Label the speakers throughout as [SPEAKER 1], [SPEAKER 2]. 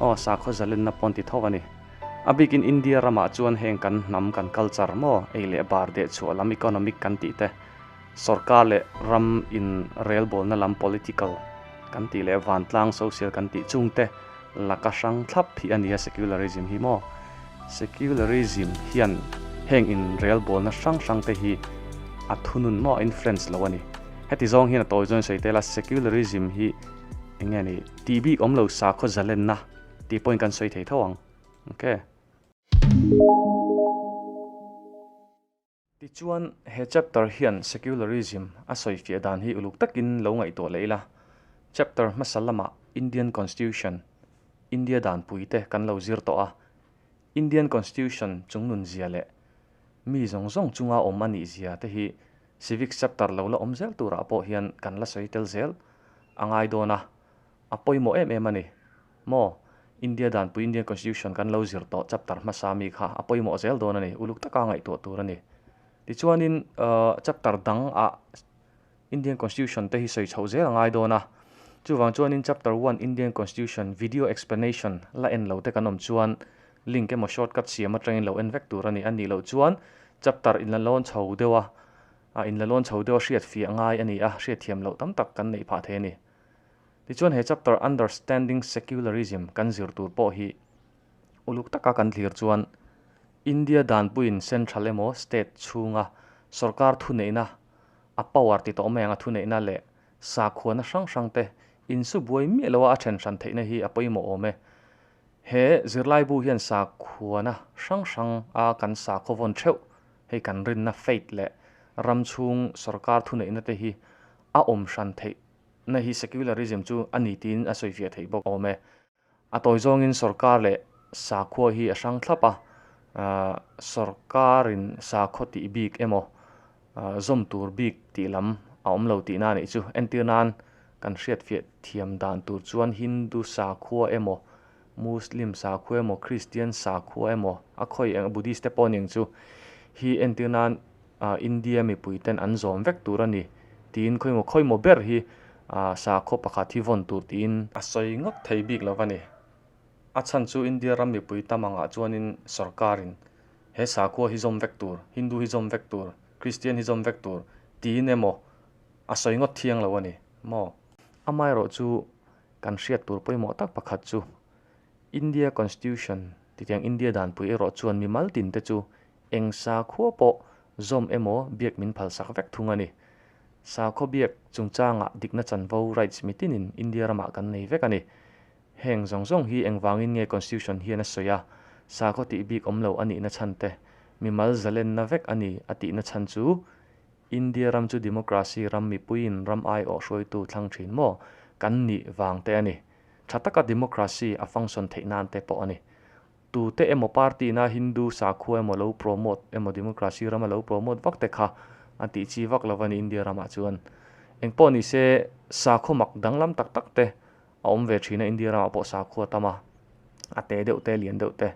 [SPEAKER 1] Aw, sakhaw zalenna pawn ti tho a ni. A bikin India ramah chuan heng kan hnam kan culture maw, ei leh bar dehchhuah lam economic kan tih te, sorkar leh ram in rel bawlna lam political kan tih leh vantlang social kan tih chung te laka hrang thlap hi a ni a secularism hi maw? Secularism hian heng in rel bawlna hrang hrang te hi a thunun maw a influence lo a ni. Heti zawng hian a tawi zawng sawi tel a, secularism hi eng nge ni? Ti bik awm lo sakhaw zalenna ti pawhin kan sawi thei tho ang okay. Tichuan he chapter hian secularism a sawi fiah dan hi uluk takin lo ngaihtuah leh ila, chapter hmasa lama Indian Constitution, India danpui te kan lo zir tawh a, Indian Constitution chungnunzia leh mi zawng zawng chunga awm a nihzia te hi, Civics chapter lo la awm zel turah pawh hian kan la sawi tel zel a ngai dawn a, a pawimawh em em a ni. Maw? India danpui Indian Constitution kan lo zir tawh chapter hmasa mi kha a pawimawh zel dawn a ni, uluk taka ngaihtuah tur a ni. Tichuanin chapter dang ah Indian Constitution te hi sawi chhoh zel a ngai dawn a, chuvang chuanin chapter one Indian Constitution video explanation la en lo te kan awm chuan link emaw shortcut siam atangin lo en vek tur a ni. A nih loh chuan chapter in la lawn chho deuh a, a in la lawn chho deuh a hriatfiah ngai a ni a, hriatthiam loh tam tak kan neih phah thei a ni. Tichuan he chapter Understanding Secularism kan zir tur pawh hi uluk taka kan thlir chuan India danpuiin central emaw state chhunga sorkar thuneihna, a power ti tawh mai anga thuneihna leh sakhuana hrang hrangte insu buai miah loa a then hran theihna hi a pawimawh awm e. He zirlaibu hian sakhuana hrang hrang a kan sa khawvawn theuh hei kan rinna faith leh ram chhung sorkar thuneihna te hi a awm hran theih na hi secularism chu a ni tiin a sawifiah theih bawk awm e. A tawi zawngin sorkar leh sakhua hi a hrang thlap a, sorkarin sakhaw tih bik emaw zawm tur bik tih lam a awm lo tihna a nih chu. Entir nan kan hriatfiah thiam dan tur chuan Hindu sakhua emaw, Muslim sakhua emaw, Kristian sakhua emaw, a khawi eng, Buddhist te pawh a ni ang chu, hi entir nan India mipui ten an zawm vek tur a ni tiin khawi maw khawi maw ber hi sakhua pakhat hi vawn tur tiin a sawi ngawt thei bik lo a ni. A chhan chu India ram mipui tam angah chuanin sawrkarin he sakhua hi zawm vek tur, Hindu hi zawm vek tur, Kristian hi zawm vek tur tiin emaw a sawi ngawt thiang lo a ni maw? Amaherawh chu kan hriat tur pawimawh tak pakhat chu India Constitution titiang India danpui erawh chuan mimal tinte chu eng sakhua pawh zawm emaw biak min phalsak vek thung a ni. Sakhua biak chungchangah dikna chanvo rights mitinin India ramah kan nei vek a ni. Heng zawng zawng hi engvangin nge Constitution hian a sawi a? Sakhaw tih bik awm lo a nihna chhan te, mimal zalenna vek a ni a tihna chhan chu India ram chu democracy ram mipuiin ram aiawh hruaitu thlang thin maw kan nih vang te a ni. Tha taka democracy a function theih nan te pawh a ni. Tute emaw party na Hindu sakhua emaw lo promote emaw democracy ram a lo promote vak te kha an tih chi vak lo a ni India ramah chuan. Engpawh ni se sakhaw mak danglam tak tak te, a awm ve thin a India ramah pawh sakhaw a tam a, a te deuh te a lian deuh te.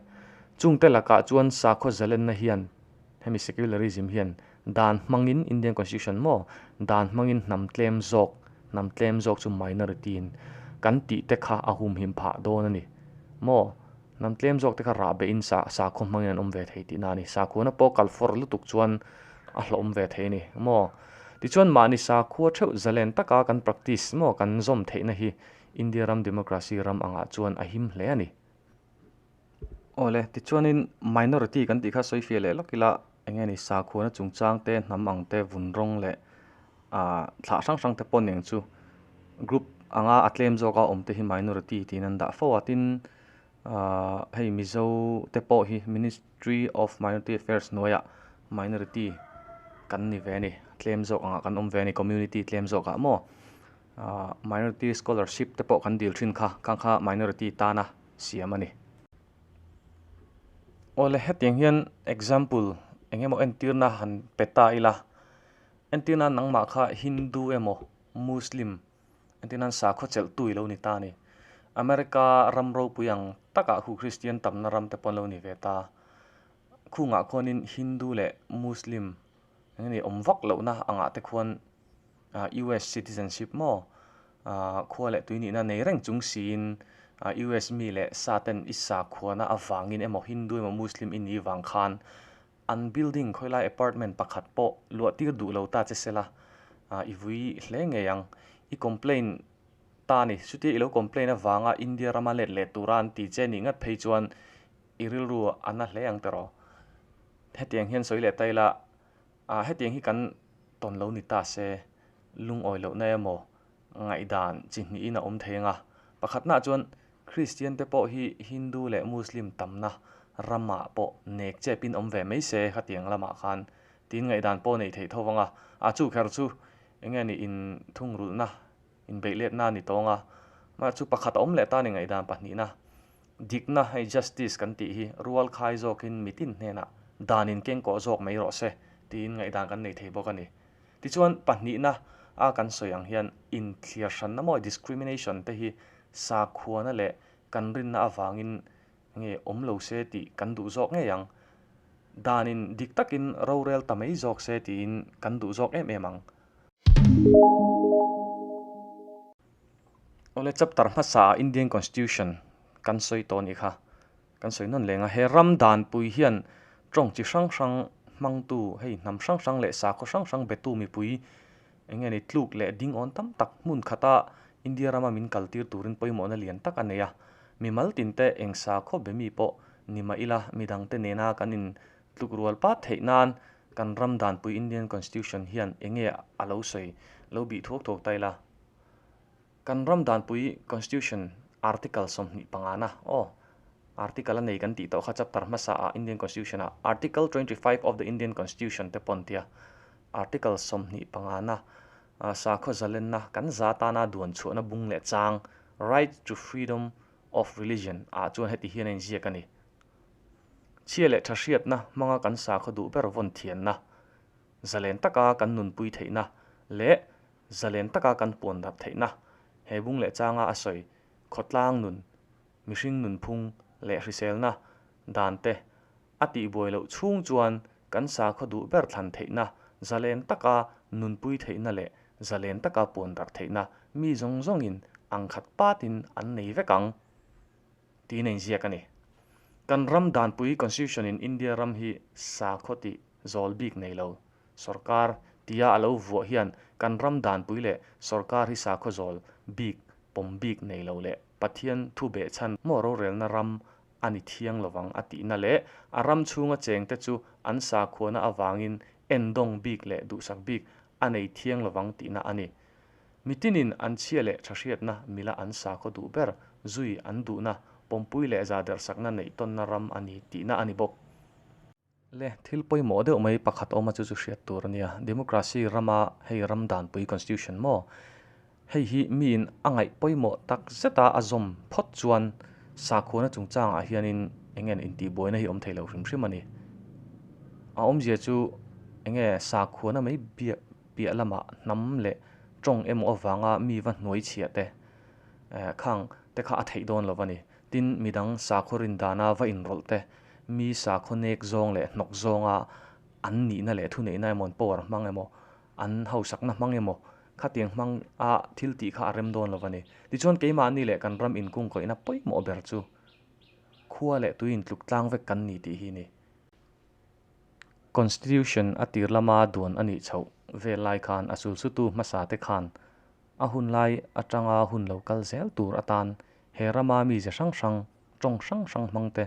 [SPEAKER 1] Chung te lakah chuan sakhaw zalenna hian hemi secularism hian dan hmangin Indian Constitution maw dan hmangin hnam tlem zawk hnam tlem zawk chu minority in kan tih te kha a humhim phah dawn a ni maw? Hnam tlem zawk te kha rah beh in sa sakhaw hmang in an awm ve thei tihna a ni. Sakhuana pawh kal fawr lutuk chuan a hlawm ve thei a ni maw. Tichuan mahni sakhua theuh zalen taka kan practice maw kan zawm theihna hi India ram democracy ram angah chuan a him hle a ni. Awle, tichuanin minority kan tih kha sawi fiah leh lak ila. eng nge ni sakhuana chungchang te hnam ang te vun rawng leh ah thlah hrang hrang te pawh nen chu group anga a tlem zawk a awm te hi minority tiin an dah fo a tin ah hei mizo te pawh hi ministry of minority affairs hnuaiah minority kan ni ve a ni tlem zawk ang ah kan awm ve a ni community tlem zawk ah maw ah minority scholarship te pawh kan dil thin kha kang kha minority tana siam a ni. Awle hetiang hian example engemaw entirna han pe ta ila entirna nangmah kha hindu emaw muslim entirna an sakhaw chelh tu ilo ni ta a ni. America ram ropui ang takah khu kristian tamna ram te pawh an lo ni ve ta a, khungah khawnin hindu leh muslim. Eng nge awm vak lohna a ngah te khuan US citizenship maw? Khua leh tui nihna nei reng chung siin US mi leh sa ten i sakhuana avangin emaw Hindu emaw Muslim i ni vang khan an building khawilai apartment pakhat pawh luahtir duh lo ta che sela i vui hle ngei ang. I complain ta a ni. Chutia i lo complain avanga India rama let leh tura an ti che ni ngat phei chuan i rilru a na hle ang teraw. Hetiang hian sawi leh ta ila, Aaa, hetiang hi kan tawn lo ni ta se, lungawi lohna emaw ngaihdan chi hnihin a awm thei ang a. Pakhatnaah chuan Kristian te pawh hi Hindu leh Muslim tamna ramah pawh nek chepin awm ve mai se khatiang lamah khan tiin ngaihdan pawh a nei thei tho vang a. A, chu kher chu enge ni inthungrulhna Inbeihletna a ni tawng a, mah chu pakhat a awm leh tan i ngaihdan pahnihna, dikna hei justice kan tih hi rual khai zawkin mitin hnenah danin kengkawh zawk mai rawh se tiin ngaihdan kan nei thei bawk a ni. Tichuan, pahnihna a kan sawi ang hian inthlir hranna mawi discrimination te hi sakhuana leh kan rinna avangin nge awm lo se tih kan duh zawk ngei ang. Danin dik takin rorel ta mai zawk se tiin kan duh zawk em em ang. Awle chapter hmasa ah Indian constitution kan sawi tawh a nih kha, kan sawi nawn leng a, he ram danpui hian tawng chi hrang hrang hmangtu hei hnam hrang hrang leh sakhaw hrang hrang betu mipui eng nge ni tluk leh ding awn tam tak hmun khata India rama min kal tir turin pawimawhna lian tak a nei a, mimal tin te eng sakhaw be mi pawh ni mah ila midang te nena kan in tluk rual pat theih nan kan ram danpui Indian Constitution hian eng nge a lo sawi lo bih thuak thuak ta ila, kan ram danpui Constitution Article sawmhnih pangana aw Article a nei kan tih tawh kha chapter hmasa ah Indian Constitution ah Article twenty five of the Indian Constitution te pawn tia Article sawmhnih pangana ah sakhaw zalenna kan za tana duan chhuahna bung leh chang Right to Freedom of Religion ah chuan heti hian a inziak a ni, Chhia leh tha hriatna hmanga kan sa khaw duh ber vawn thianna, zalen taka kan nunpui theihna leh zalen taka kan puanrap theihna, he bung leh changa a sawi khawtlang nun, mihring nunphung leh hriselna dante a tihbuai loh chhung chuan kan sa khaw duh ber thlan theihna, zalen taka nunpui theihna leh zalen taka puanrap theihna mi zawng zawngin ang khat patin an nei vek ang. Tiin a inziak a ni. Kan ram danpui Constitution in India ram hi sakhaw tih zawl bik nei lo, sorkar, tia a lo vuah hian kan ram danpui leh sorkar hi sakhaw zawl bik, pawm bik nei lo leh Pathian thu beh chhan maw rorelna ram a ni thiang lo vang a tihna leh a ram chhunga cheng te chu an sakhuana avangin endawng bik leh duhsak bik a nei thiang lo vang tihna a ni. Mitinin an chhia leh tha hriatna mila an sa khawh duh ber, zui an duhna, pawmpui leh zahdersakna neihtawnna ram a ni tihna a ni bawk. Le thil pawimawh deuh mai pakhat awm a chu chu hriat tur a nia, democracy rama hei ram danpui constitution maw? Hei hi miin a ngaih pawimawh tak zeta a zawm phawt chuan sakhuana chungchangah hianin enge intihbuaina hi awm thei lo hrim hrim a ni. A awmzia chu enge sakhuana mai biak, piah lamah hnam leh tawng emaw avanga mi va hnuaichhiah te eh khang te kha a theih dawn lo a ni. Tin, midang sakhaw rindana va inrawlh te, mi sakhaw nek zawng leh hnawk zawnga an nihna leh thuneihna emaw, an power hmang emaw, an hausakna hmang emaw, khatiang hmanga thil tih kha a rem dawn lo a ni. Tichuan, keimahni leh kan ram inkungkawihna pawimawh ber chu khua leh tui intluk tlang vek kan ni tih hi a ni. Constitution a tir lama duan a nih chhoh vel lai khan a sulsutu hmasa te khan a hun lai atanga hun lo kal zel tur atan he rama mi ze hrang hrang, tawng hrang hrang hmang te,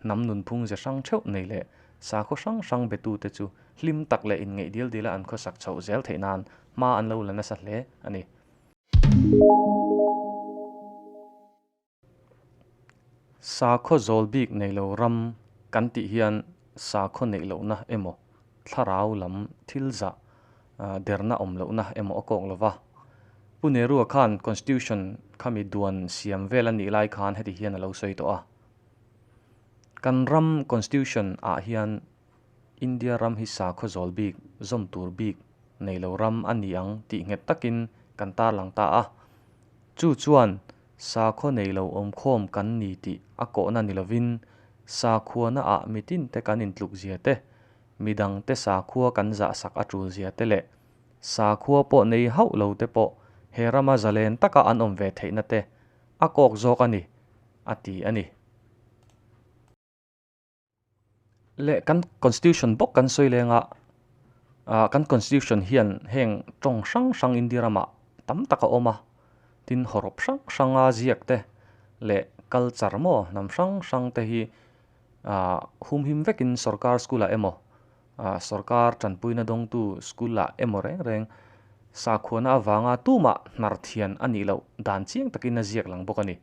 [SPEAKER 1] hnam nunphung ze hrang theuh nei leh sakhaw hrang hrang be tu te chu hlim tak leh inngeih dil dil a an khawsak chhoh zel theih nan hma an lo la nasa hle a ni. Sakhaw zawl bik neih loh ram kan tih hian sakhaw neih lohna emaw thlarau lam thil zah derna awm lohna emaw a kawk lova. Pu Nehru-a khan Constitution khami duan siam vel a nih lai khan heti hian a lo sawi tawh a, Kan ram Constitution ah hian India ram hi sakhaw zawl bik zawm tur bik neih loh ram a ni ang tih nghet takin kan tarlang ta a. Chu chuan. sakhaw nei lo awmkhawm kan ni tih a kawhna ni lovin, sakhuana ah mitin te kan intluk zia te, midang te sakhua kan zah sak a tul zia te leh sakhua pawh nei hauh lo te pawh he rama zalen taka an awm ve theihna te a kawk zawk a ni, a ti a ni. leh kan constitution bawk kan sawi leng a ahh kan constitution hian heng tawng hrang hrang india ram ah tam tak a awm a tin haw rawp hrang hrang a ziak te leh culture maw hnam hrang hrang te hi ahh humhim vek in sorkar school ah emaw ahh sorkar tanpui na dawng tu school ah emaw reng reng sakhuana avanga tumah hnar thian a nih loh dan chiang tak in a ziak lang bawk a ni.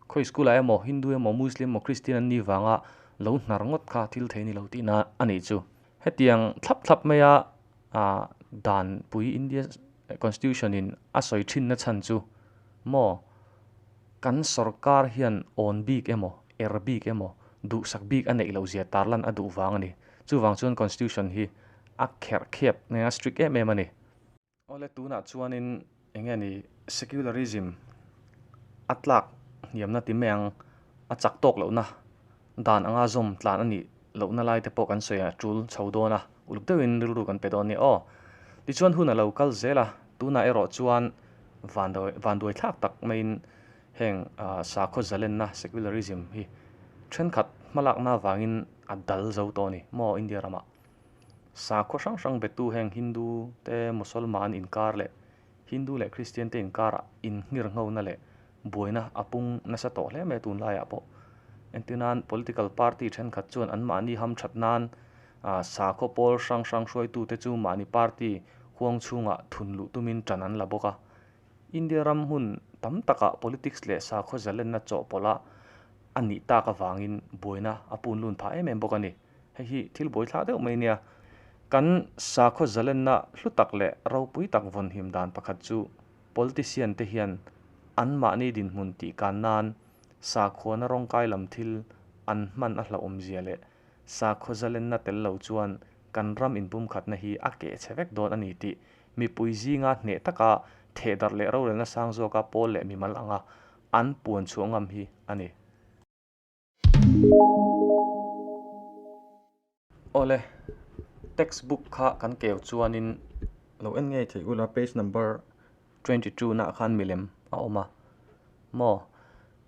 [SPEAKER 1] Khawi school ah emaw, Hindu emaw, Muslim emaw, Christian an ni vang a lo hnar ngawt kha thil thei ni lo tih na a nih chu. Hetiang thlap thlap mai a ah dan pui India constitution in a sawi thin na chhan chu maw kan sorkar hian awn bik emaw, er bik emaw, duh sak bik a neih lo zia tar lan a duh vang a ni. Chuvang chuan constitution hi a kherh khep nge a strict em em a ni. Awle tunah chuanin eng nge ni secularism a tlak hniamna ti mai ang a chak tawk lohna dan anga zawm tlan a nih lohna lai te pawh kan sawi a tul chho dawn a, uluk deuhin rilru kan pe dawn nia aw. Tichuan hun a lo kal zel a, tunah erawh chuan van vanduai thlak tak maiin heng sakhaw zalenna secularism hi thenkhat hmalakna avangin a dal zo tawh a ni maw India ramah. sakhaw hrang hrang betu heng Hindu te Musalman inkar leh Hindu leh Kristian te inkarah inhnghir nghona leh buaina a pung nasa tawh hle mai tunlaiah pawh. Entina'n political party thenkhat chuan anmahni hamthat nan sakhaw pawl hrang hrang hruaitute chu mahni party huang chhungah thun luh tumin ṭan an la bawk a. India ram hmun tam takah politics leh sakhaw zalenna chawhpawlha a nih tak avangin buaina a punlun phah em em bawk a ni. Hei hi thil bawi thla deuh mai nia. Kan sakhaw zalenna hlutak leh ropui tak vawnhim dan pakhat chu politician te hian an mahni dinhmun tihkan nan sakhuana rawngkai lam thil an hman a hlauhawmzia leh sakhaw zalenna tel lo chuan kan ram inpumkhatna hi a keh che vek dawn a ni tih mipui zinga hneh taka thehdarh leh rorelna sang zawka pawl leh mimal anga an puan chhuah ngam hi a ni. Awle, text book kha kan keu chuanin lo en ngei theih ula, page number twenty two nah khan milem a awm a maw?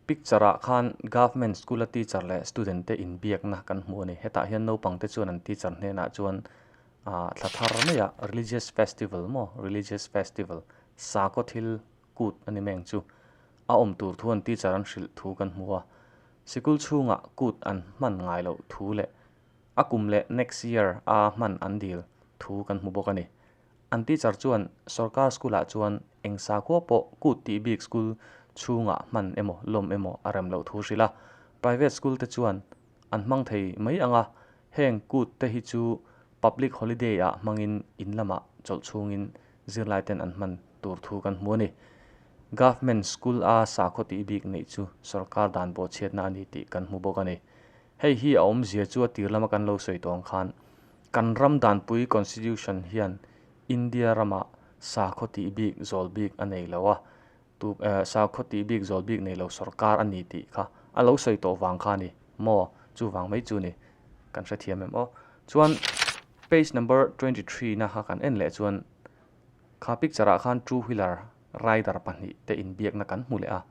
[SPEAKER 1] Picture ah khan government school a teacher leh student te inbiakna kan hmu a ni. Hetah hian naupang te chuan an teacher hnenah chuan ah thla thar maia religious festival maw religious festival sakawthil, kut a ni meng chu a awm tur thu an teacher an hrilh thu kan hmu a, sikul chhungah kut an hman ngai loh thu leh a kum leh next year a hman an dil thu kan hmu bawk a ni. An teacher chuan sorkar school-ah chuan eng sakua pawh kut tih bik school chhungah hman emaw lawm emaw a rem loh thu hrilh a, private school te chuan an hmang thei mai ang a, heng kut te hi chu public holiday-ah hmangin in lamah chawlh chhungin zirlaiten an hman tur thu kan hmu a ni. Government School a sakhaw tih bik neih chu sorkar dan bawhchhiatna a ni tih kan hmu bawk a ni. Hei hi a awmzia chu a tir lama kan lo sawi tawng khan kan ram danpui Constitution hian India ramah sakhaw tih bik zawl bik a nei lo a, Tu sakhaw tih bik zawl bik nei lo sorkar a ni tih kha a lo sawi tawh vang kha a ni maw? Chuvang mai chu ni kan hrethiam em aw. Chuan page number twenty three na kha kan en leh chuan kha picture ah khan two wheeler rider pahnih te in biak na kan hmu leh a.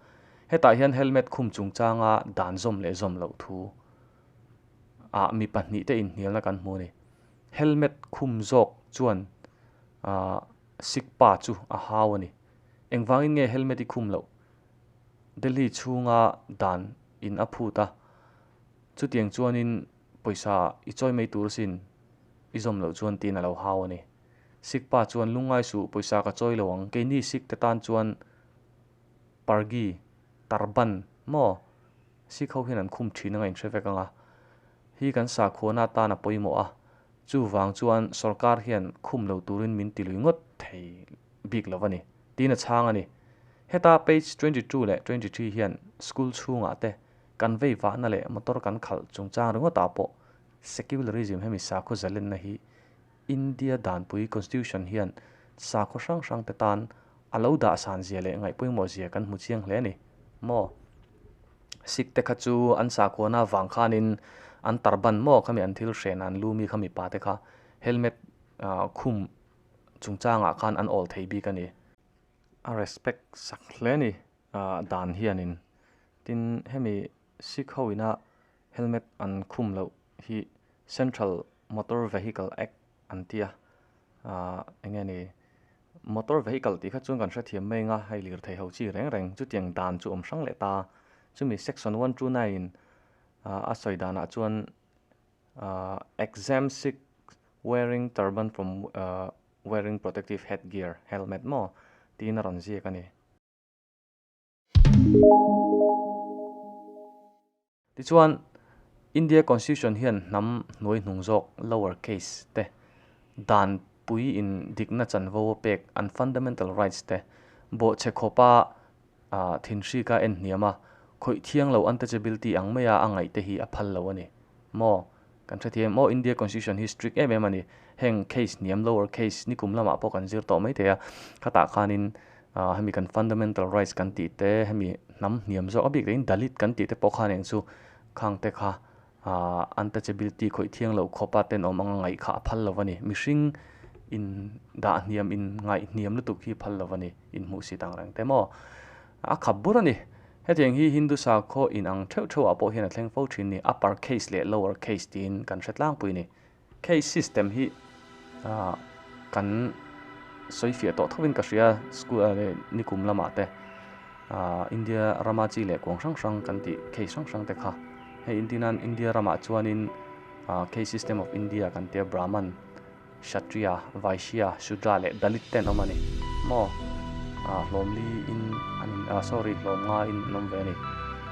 [SPEAKER 1] Hetah hian helmet khum chung chang a dan zawm leh zawm loh thu ah mi pahnih te in hnial na kan hmu a ni. Helmet khum zawk chuan ahh sikpa chu a hau a ni. Engvangin nge helmet i khum loh? Delhi chhunga dan in a phut a, chutiang chuanin pawisa i chawi mai tur sin i zawm loh chuan tiin a lo hau a ni. Sikh pa chuan lungngai suh, pawisa ka chawi lo ang, keini Sikh te tan chuan pargi, tarban, maw? Sikh ho hian an khum thin anga in hre vek anga. Hi kan sakhuana tan a pawimawh a, chuvang chuan sorkar hian khum lo turin min ti lui ngawt thei bik lo a ni, tiin a chhang a ni. Heta page twenty two leh twenty three hian school chhungah te, kan vei vahna leh motor kan khalh chungchang ringawtah pawh secularism hemi sakhaw zalenna hi India danpui Constitution hian sakhaw hrang hrangte tan a lo dah san zia leh ngaih pawimawh zia kan hmu chiang hle a ni maw? Sikte kha chu an sakhuana avang khanin an Tarban maw khami an thil hrehna an lu mi kha mipate kha helmet khum chungchangah khan an awl thei bik a ni. A respect sak hle a ni dan hianin. Tin hemi Sikh hoin a helmet an khum loh hi central motor vehicle act an ti a aah eng nge ni motor vehicle tih kha chuan kan hrethiam mai anga hei lirthei ho chi reng reng chuti ang dan chu awm hrang leh ta chumi section one two nine in aah a sawi danah chuan aah exam sick wearing turban from aah wearing protective head gear helmet maw tiin a rawn ziak a ni. Tichuan, India Constitution hian hnam hnuai hnung zawk, lower case, te dan pui in dikna chanvo a pek, an fundamental rights te bawh che khawpa thinhrik a en hniam a, khawih thiang lo antachability ang maia a ngaihte hi a phal lo a ni. Maw? Kan hrethiam maw? India Constitution hi strict em em a ni. Heng case hniam lower case nikum lamah pawh kan zir tawh mai thei a. Khatah khanin aah hemi kan fundamental rights kan tih te hemi hnam hniam zawk a bik dahin dalit kan tih te pawh khan engchu khang te kha aah untouchability khawih thiang loh khawpa ten awm anga ngaih kha a phal lo a ni. Mihring in dah hniam in ngaih hniam lutuk hi phal lo a ni. Inhmuh sitang reng te maw? A khap bur a ni. Hetiang hi Hindu sakhaw inang theuh theuhah pawh hian a thleng fo thin ni, upper case leh lower case tiin kan hre tlangpui a ni. Case system hi kan sawifiah tawh thovin ka hria, school ah leh nikum lamah te, India rama chi leh kuang hrang hrang kan tih case hrang hrang te kha. Hei intinan India ramah chuanin case system of India kan tia, Brahman, Kshatriya, Vaishya, Shudra leh Dalit ten awm a ni maw? Aah hlawm li in an in aah sorry hlawm nga in an awm ve a ni.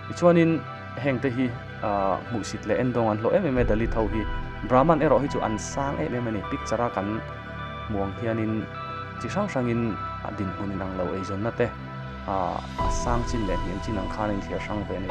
[SPEAKER 1] Tichuan in heng te hi aah hmuhsit leh en dawng an hlawh em em e Dalit ho hi Brahman erawh hi chu an sang em em a ni. Picture a kan hmuang hian in chi hrang hrang in a dinhmun in ang lo eizawn na te aah a sang chin leh hniam chin ang khan a in thlir hrang ve a ni.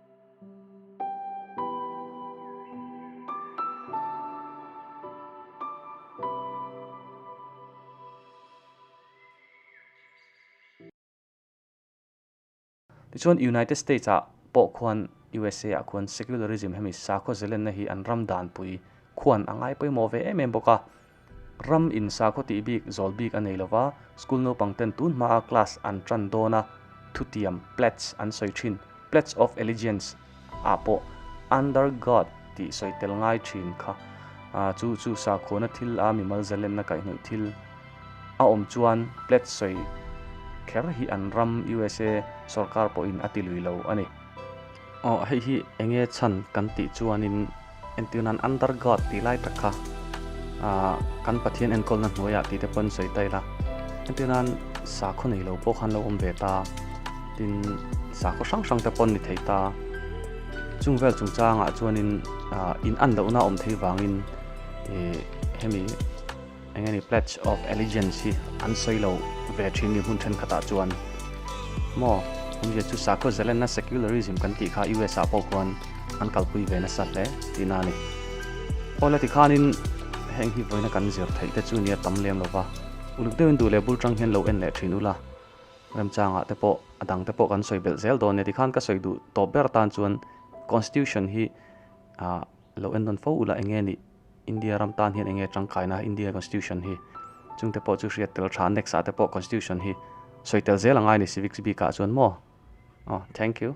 [SPEAKER 1] Tichuan, United States ah pawh khuan, usa ah khuan, secularism hemi sakhaw zelenna hi an ram danpui khuan a ngai pawimawh ve em em bawk a. Ram in sakhaw tih bik zawl bik a nei lova, school naupang ten tun hmaa class an tan dawn a, thutiam, pledge, an sawi thin, pledge of allegiance, ah pawh under God tih sawi tel ngai thin kha. Chu chu sakhuana thil a mimal zalenna kaihhnawih thil a awm chuan pledge sawi kher hi an ram usa sawrkar pawhin a ti lui lo a ni. Aw hei hi enge chhan kan tih chuanin entirnan under God tih lai tak kha ah kan Pathian enkawlna hnuaiah tih te pawhin sawi ta ila entirnan sakhaw nei lo pawh khan lo awm ve ta tin sakhaw hrang hrang te pawh ni thei ta chung vel chung changah chuanin ah in an lohna awm thei vangin e hemi Eng a ni pledge of allegiance hi an sawi lo ve thin ni hmun thenkhat ah chuan maw hun zia chu sakhaw zelen na secularism kan tih kha US ah pawh khuan an kalpui ve nasa hle ti na ni pawh la ti khan in heng hi voina kan zir thei te chu nia tam lem lova uluk deuhin duh leh bul tang hian lo en leh thin ula remchang ah te pawh adang te pawh kan sawi belh zel dawn nia ti khan ka sawi duh tawp ber tan chuan constitution hi a lo en dawn fo ula enge ni India ram tan hian enge tangkai na India constitution hi chung te pawh chu hriat tel tha next ah te pawh constitution hi sawi tel zel angai ni civics bik ah chuan maw oh thank you.